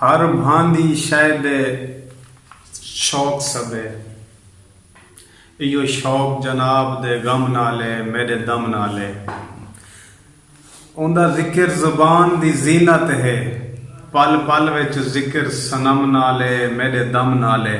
ہر بھاندی شئے دے شوق سبھے۔ ایہو شوق جناب دے غم نال اے میݙے دم نال اے۔ اوندا ذکر زبان دی زینت اے۔ پل پل وچ ذکر صنم نال اے میݙے دم نال اے۔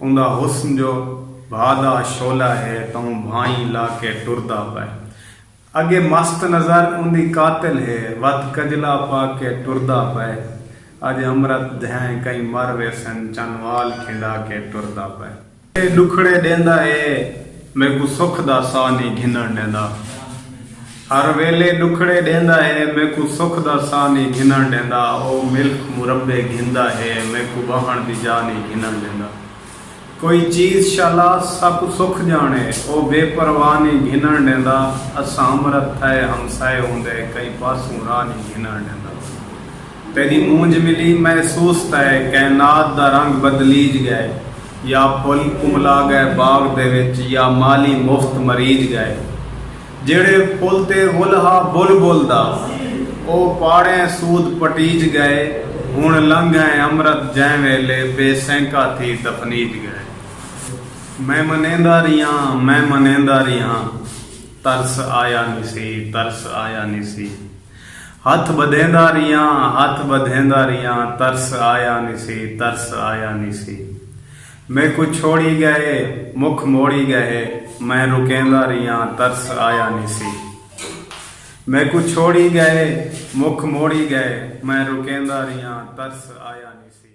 اوندا حسن جو بھا دا شعلہ ہے توں بھائیں لا کے ٹردا پئے اگے مست نظر اوندی قاتل ہے وت کجلا پا کے ٹردا پئے اج امرت دھیں کئی مر ویسن چن وال کھنڈا کے ٹردا پئے۔ ڈکھڑے ڈیندا ہے میکوں سکھ دا ساہ نی گھنن ڈیندا۔ ہر ویلے ݙکھڑے ݙیندا ہے میکوں سکھ دا ساہ نی گھنݨ ݙیندا او ملک مربے گھندا ہے میکوں ٻہݨ دی جاہ نی گھنݨ ݙیندا کوئی چیز شالا ساکوں سکھ ڄاݨے او بے پرواہ نی گھنݨ ݙیندا اساں امرت تھئے ہمسائے ہوندے کئیں پاسوں راہ نی گھنݨ ݙیندا تیݙی مونجھ ملی محسوس تئے کائنات دا رنگ بدلیج ڳئے یا پھل کملا ڳئے باغ دے وچ یا مالی مفت مریج ڳئے جیڑھے پل تے ول ہا بلبل دا او پاڑیں سود پٹیج گئے ہن لنگھ ائیں امرت جئیں ویلے بے سینکا تھی دفنیج گئے میں منیندا ریہاں میں منیندا ریہاں ترس آیا نیسی ترس آیا نیسی ہتھ بدھیندا ریہاں ہتھ بدھیندا ریہاں ترس آیا نیسی ترس آیا نیسی۔ میکوں چھوڑی ڳئے مکھ موڑی ڳئے میں رکیندا ریہاں ترس آیا نیسی میکوں چھوڑی ڳئے مکھ موڑی ڳئے میں رکیندا ریہاں ترس آیا نیسی۔